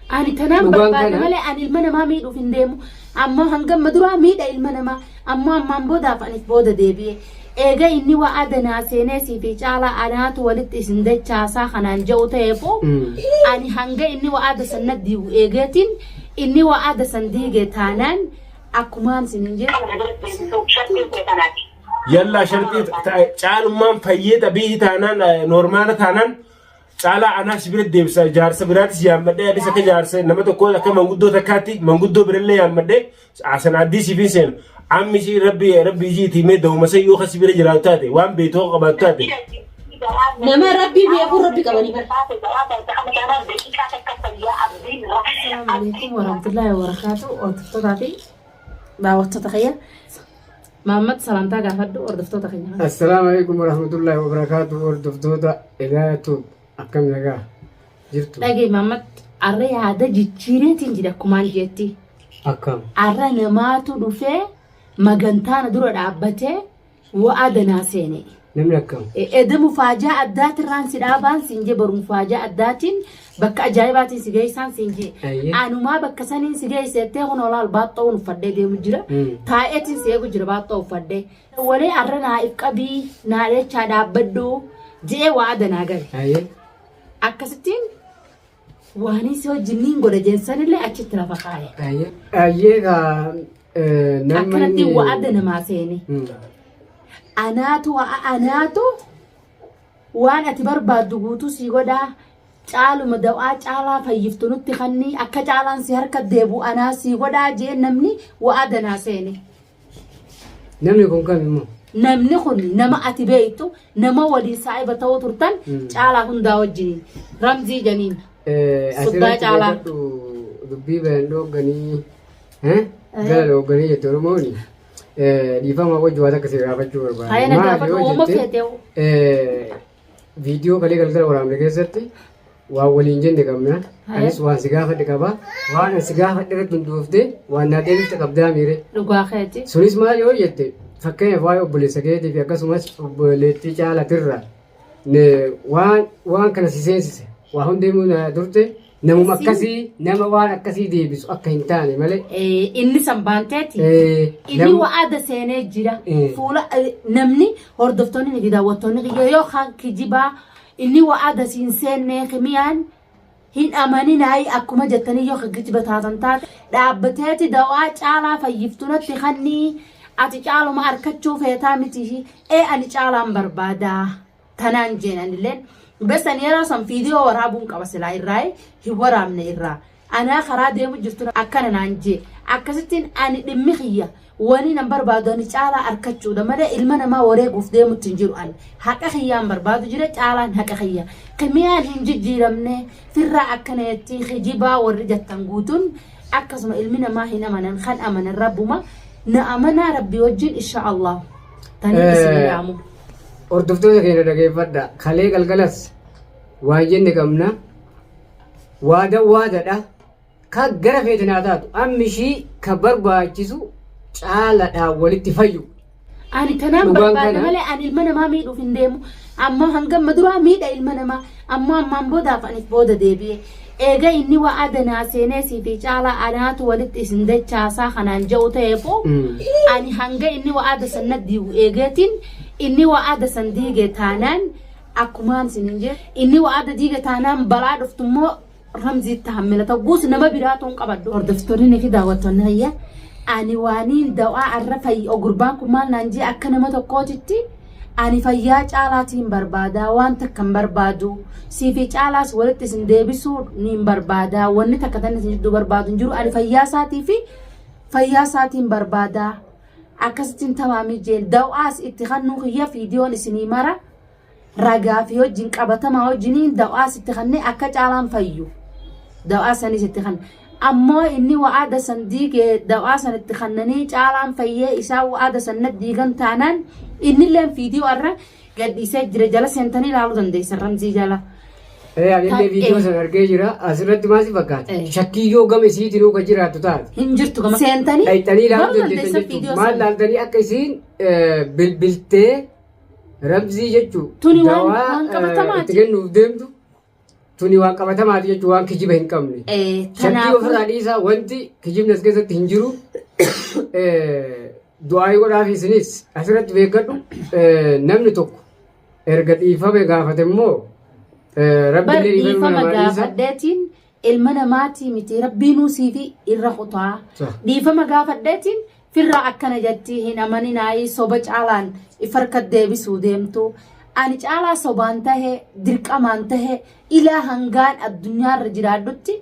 Ani tanaan Dhugaan barbaada kana- malee ani ilma namaa miidhuuf hin deemu. Ammoo hanga amma duraa miidha ilma namaa. Ammoo ammaan boodaaf anis booda deebi'e. Eega inni waa adanaa seenee siifi caalaa anaatu walitti isin dachaasaa kanaan ja'u ta'eefuu Mm. ani hanga inni waa ada san na diigu eegeetiin inni waa ada san diige taanaan akkumaan sin hin jedhu. yallaa sharxii ta- caalummaan fayyee xabiihi taanaan eh, noormaala taanaan Caalaa anaa si bira deebisa jaarsa biraatis yaammadhee anis akka jaarsa nama tokkoo akka manguddoo takkaatti manguddoo birallee yaammadhee asan addii siifin seenu amma ishii rabbi rabbi ishii itti himee da'uma san yoo kasi bira jiraatu taate waan beektu akka qabaatu taate Nama rabbii beekuu rabbi qabanii bara. Assalamu alaikum warahmatullahi wabarakatuh. Hordoftoota fi daawwattoota kiyya. Mahammad salaamtaa gaafadhu hordoftoota keenya kana. Assalaamu alaikum warahmatullahi wabarakaatu hordoftoota Edaaya Tuub akkam nagaa jirtu Dhagee Mahammad arra yaada jijjiireetiin jira akkumaan jeetti. akkam Arra namaatu dhufee magantaana dura dhaabbatee wa'aa danaa seene. Namni akkam? Eda mufaajaa addaatirraan si dhaabaan siin jee bar mufaajaa addaatiin bakka ajaa'ibaatiin si geessaan siin jee. Ayyee. Anumaa bakka saniin si geesse jettee kun olaal baaxxoo uffadhee deemu jira. Mm. Taa'eetiin si eegu jira baaxxoo uffadhee. Walee arra naa if qabii naa dheechaa dhaabbadhu je'ee waa adanaa gale. Ayyee. Akkasittiin Waanii si wajjin niin godha jeen sanillee achitti lafa kaaye. Ayyee. Ayyee kaa eh, namni. Akkanatti wa'ada namaa seene. Hmm. Anaatu wa'a anaatu waan ati barbaaddu guutuu sii godhaa. Caaluma dawaa caalaa fayyiftu nutti kannii akka caalaan si harka deebu anaa sii godhaa jeen namni wa'ada naa seene. Namni kun kam immoo? Namni kun nama ati beektu nama waliin saahiba ta'uu turtan Mm. caalaa hundaa wajjin ramzii janiin. Suddaa Asirratti caalaa. beekadhu dubbii bayan dhoogganii eh, gara dhoogganii jette Oromooni eh, dhiifama wajji waan akka si gaafachuu Haaya barbaada. na Maali gaafadhu yoo uuma jette, feeteewu. eh, Viidiyoo kalee galgala waraabne keessatti waan waliin jenne qabna. Anis waan si gaafadhe qaba. Waan ani si gaafadhe irratti hundoofte waan naa deebifte qabdaa miire. Dhugaa keeti. Sunis maal yoo jette fakkeenyaaf waa'ee obboleessa keetii fi akkasumas obboleettii caalatirra ne- waan waan kana si seensise waa hundee dur turte Namuma akkasii nama waan akkasii deebisu akka hin taane malee. Eh, inni san baanteeti Eh, inni namni- wa'aada seenee jira Eh. fuula eh, namni hordoftoonni fi daawwattoonni kiyya yoo kan kijibaa inni wa'aada siin seennee kimiyaan hin amaninaayi akkuma jettanii yoo kan kijiba taatan taate dhaabbateeti dawaa caalaa fayyiftunatti kannii ati caaluma arkachuu feetaa miti ee ani caalaan barbaadaa Tanaan jeen anilleen besan yeroo san viidiyoo waraabuun qaba silaa irraa hin waraabne irraa. Anaa karaa deemu jirtu akkana naan jee. Akkasittiin ani dhimmi kiyya wani nan barbaadu ani caalaa arkachuudha malee ilma namaa wareeguuf deemutti hin jiru ani. Haqa kiyyaan barbaadu jira caalaan haqa kiyya. Kimiyaan hin jijjiiramne firraa akkana jettii kijibaa warri jattan guutuun akkasuma ilmi namaa hin amanan kan amanan rabbuma na amanaa rabbii wajjin insha Allah. Tanii isin yaamu. Hordoftoota keenya dhageeffadha. Kalee galgalas waan jenne qabna. Waadan waadadha. Ka gara feete naa taatu. Amma ishii ka barbaachisu caaladhaan walitti fayyu. Ani tanaan Dhugaan barbaada kana- malee ani ilma namaa miidhuuf hin deemu. Amma hanga amma duraa miidha ilma namaa. Ammoo ammaan boodaaf ani if booda deebi'e. Eega inni wa'ada naa seenee siifii caalaa anaatu walitti isin dachaasaa kanaan ja'u ta'eefuu ani hanga inni wa'ada san na diigu eegeetiin inni wa'ada san diige taanaan akkumaan sinin jee inni wa'ada diige taanaan balaa dhuftu immoo Ramzii tahammila ta'us nama biraa tuun qabadhu. Hordoftoonni fi daawwattoonni hayya ani waaniin dawaa arra fayya gurbaan kun maal naan jee akka nama tokkootitti ani fayyaa caalaatiin barbaadaa waan takka hin barbaadu siifi caalaas walitti isin deebisuu niin barbaadaa wanni takka tan isin jidduu barbaadu hin jiru ani fayyaa isaatii fi fayyaa isaatiin barbaadaa akkasittiin tamaamii jeen dawaas itti kannuu kiyya fiidiyoon isinii mara. ragaa fi wajjin qabatamaa wajjiniin dawaa sitti kannee akka caalaan fayyu dawaa sanii sitti kanna ammoo inni wa'aada san diigee dawaa san itti kannanii caalaan fayyee isaa wa'aada san diigan taanaan innilleen fiidiyoo irra gadhiisee jira jala seentanii ilaaluu dandeessan ramzii jala. Ee anillee Ta'e. viidiyoo sana argee jira. Asirratti maal si fakkaata? Ee. Shakkii yoo gama isiitiin hoo kan jiraattu taate. Hin jirtu gama seentanii Dhayxanii ilaaluu ilaaluu dandeessan dandeessan viidiyoo jechuudha. Maal sana. laaltanii akka isiin eh, bilbiltee Ramzii jechuun Tuni waan- dawaa waan qabatamaati. eh, itti kennuuf deemtu tuni waan qabatamaati jechuun waan kijiba hin qabne. Eh, Shakkii Kanaafuu ofirraa dhiisaa wanti kijibni as keessatti hin jiru. Eh, Du'aayii godhaaf isinis asirratti beekadhu eh, namni tokko erga dhiifame gaafate immoo eh, bar rabbiillee dhiifama dhiifama namaa dhiisa. gaafadheetiin ilma namaati miti rabbiinuu siifi irra kutaa Sah. dhiifama gaafadheetiin firraa akkana jatti hin amaninaayii soba caalaan if harka deebisuu deemtu ani caalaa sobaan tahe dirqamaan tahe ilaa hangaan addunyaarra jiraadhutti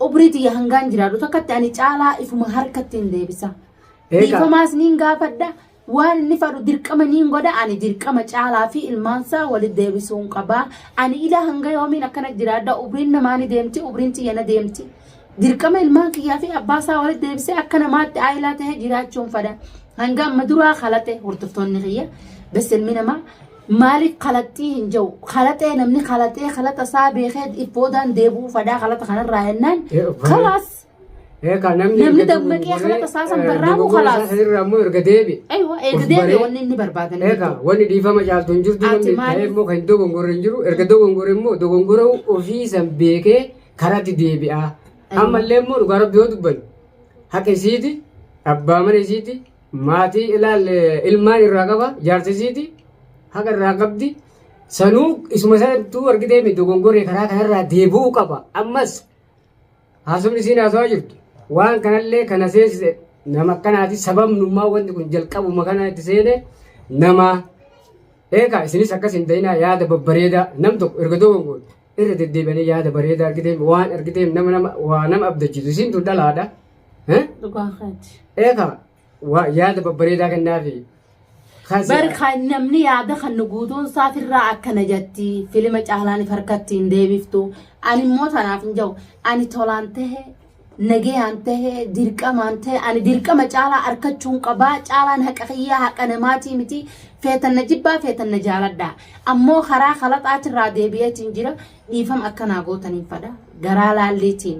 umrii tiyya hangaan jiraadhu takkatti ani caalaa ifuma harkatti hin deebisa Eegaa. dhiifamaas niin gaafadha Waan inni fadhu dirqama niin godha ani dirqama caalaa fi ilmaansaa wali deebisuun qaba. Ani ilaa hanga yoomiin akkana jiraadha ubriin namaa ni deemti ubriin tiyya na deemti. Dirqama ilmaan kiyyaa fi abbaa isaa wali deebisee akka namaatti aayilaa ta'ee jiraachuun fada. Hanga amma duraa kalaxee hordoftoonni kiyya beselmi namaa maaliif kalaxxii hin jiru kalaxee namni kalaxee kalaxa isaa beekee if boodaan deebi'uu fadaa kalaxa kanarraa jennaan kalaas Eekaa namni Namni erga dammaqee dogoggoree, kana tasaa san eh, barraa'u dogoggora kalaas. isaa irraa immoo erga deebi'e. Eewa Of eegdee baree. wanni inni barbaade ni Eekaa jiru. wanni dhiifama caaltu hin jirtu Ati namni maali? ta'ee immoo kan hin dogongorre hin jiru. Erga dogongorre immoo dogongora ofii san beekee karaatti deebi'a. Ammallee immoo dhugaa rabbi yoo dubbanne haqa isiiti, abbaa mana isiiti, maatii ilaal eh, ilmaan irraa qaba, jaarsa isiiti, haqa irraa qabdi. Sanuu isuma sanattuu argitee mi dogongoree karaa kanarraa deebi'uu qaba. Ammas Haasofni isiin haasawaa jirtu waan kanallee kana seensise nama akkanaati sababnummaa wanti kun jalqabuma kana itti seene nama eegaa isinis akkas hin ta'inaa yaada babbareedaa nam tokko erga dogongoon irra deddeebi'anii yaada bareedaa argiteem waan argiteem nama nama waa nama abdachiisu isiin tun dhalaadha. Eh? Dhugaa keeti. Eegaa Waa yaada babbareedaa kennaafi. Kan si- Bar kan namni yaada kan nu guutuun isaatirraa akkana jetti filima caalaan if harkatti hin deebiftu ani immoo tanaaf hin jiru ani tolaan tahe nagayaan tahe dirqamaan tahe ani dirqama caalaa arkachuun qabaa caalaan haqa kiyyaa haqa namaatii miti feetan na jibbaa feetan na jaaladha ammoo karaa kalaxaatirraa deebi'eetiin jira dhiifam akkanaa gootaniin fadha garaa laalleetiin.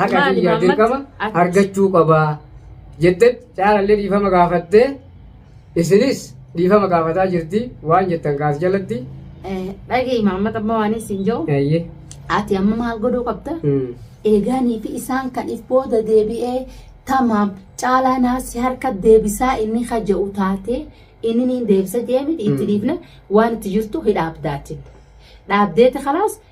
haqa Maali, kiyyaa Maammat? dirqama Ati- argachuu qabaa jettee caalallee dhiifama gaafattee isinis dhiifama gaafataa jirti waan jettan kaas jalatti Eh, dhaga'i Maammat amma waan isin jedhu eeyyee ati amma maal godhuu qabda Mm. eegaanii fi isaan kan if booda deebi'ee tamaam caalaa naasi harka deebisaa inni haja'u taate inni niin deebisa jeemiti itti dhiifne waan itti jirtu hidhaabdaatin dhaabdeeti kalaas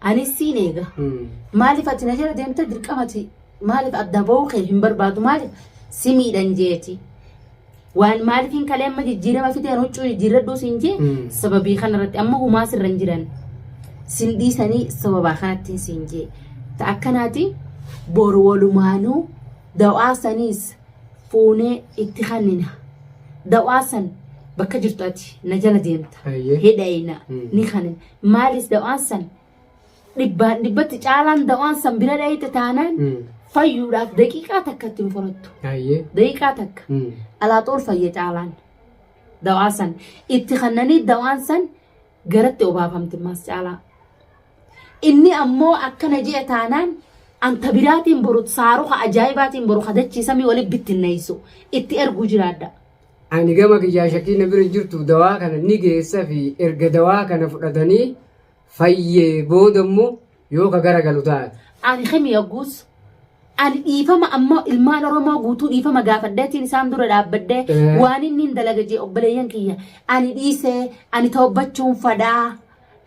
Anis siin eega. Maaliif ati na jala deemte dirqama ati maaliif adda ba'uu kee hin barbaadu maaliif si miidhan jeeti. Waan maaliif hin kalee amma jijjiirama fideen huccuu jijjiirradhuu siin jee sababii kanarratti amma humaa sirra hin jiran. Sin dhiisanii sababaa kanattiin siin jee. Ta akkanaati boru walumaanuu dawaa saniis fuunee itti kannina. Dawaa san bakka jirtu ati na jala deemta. Hayyee. Hidhayina ni kannina. Maalis dawaan san dhibbaan dhibbatti caalaan dawaan san bira dhayite taanaan Mm. fayyuudhaaf daqiiqaa takka ittiin furattu. Ayyee. Daqiiqaa takka. Mm. Alaaxool fayya caalaan dawaa san itti kannanii dawaan san garatti obaafamti maas caalaa. Inni ammoo akkana ji'a taanaan anta biraatiin boru saaruka ajaa'ibaatiin boru kadachiisamii walitti bittinneessu itti erguu jiraadha. Ani gama kiyyaa shakii na bira jirtu dawaa kana ni geessa fi erga dawaa kana fudhatanii fayyee booda immoo yoo ka gara galu taate. Ani Kemi Yagguus ani dhiifama ammoo ilmaan Oromoo guutuu dhiifama gaafadheetiin isaan dura dhaabbadhee Eh. waan inni hin dalaga jee obboleeyyan kiyya ani dhiisee ani toobbachuun fadhaa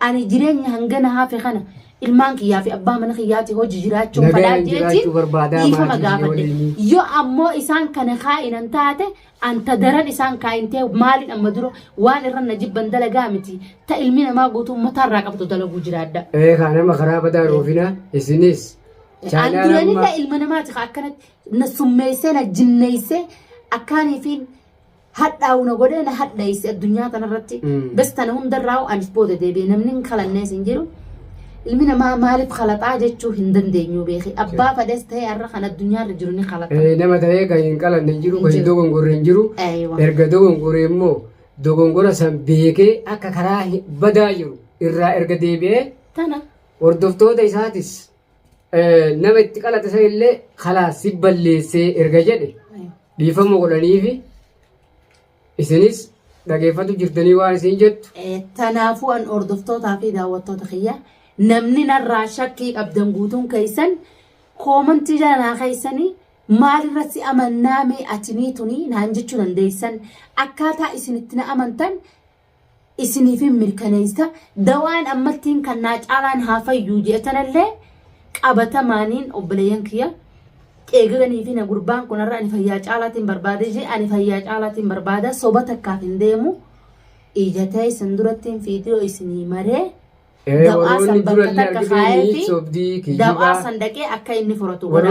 Ani jireenya hangana hafe kana ilmaan kiyyaa fi abbaa mana kiyyaati hojii jiraachuun Nagaan fadhaa jeetiin jiraachuu barbaadaa dhiifama maatii biyya gaafadhe. waliinii. Yoo ammoo isaan kana kaa'inan taate anta daran isaan kaa'intee maaliin amma dura waan irra na jibban dalagaa miti. Ta ilmi namaa guutuu uummataa irraa qabdu dalaguu jiraadha. Ee kaa nama karaa badaa ruufina isinis. An Chaayinaa duranillee amma ilma namaati ka akkanatti na summeessee na jinneessee akkaaniifiin hadhaawu na godhee na hadheesse addunyaa kanarratti Mm. bes tana hundarraa'u anis booda deebi'e namni hin kalannees hin jiru ilmi namaa maaliif kalaxaa jechuu hin dandeenyu beeki abbaa fadhees ta'ee har'a kan addunyaarra jiru ni kalaxa Eh, nama ta'ee kan hin qalanne hin jiru kan hin Jiru. dogongorre hin jiru Eeywa. erga dogongore immoo dogongora san beekee akka karaa hin- badaa jiru irraa erga deebi'ee tana hordoftoota isaatis nama itti qalate san illee kalaas si balleessee erga jedhe dhiifama godhaniifi isinis dhageeffatu jirtanii waan isin jettu Eh, Kanaafuu an hordoftootaa fi daawwattoota kiyya namni narraa shakkii qabdan guutuun keessan koomantii jala naa keessanii maalirratti amannaa mee atinii tunii naan jechuu dandeessan akkaataa isin itti na amantan isiniifin mirkaneessa dawaan ammattiin kan naa caalaan haa fayyuu jeetanallee qabatamaaniin obboleeyyan kiyya eegalanii fi na gurbaan kunarra ani fayyaa caalaatiin barbaadee jee ani fayyaa caalaatiin barbaada soba takkaaf hin deemu ija ta'e isin durattiin viidiyoo isinii maree dawaa san bakka takka kaa'ee fi dawaa san dhaqee akka inni furatu godha.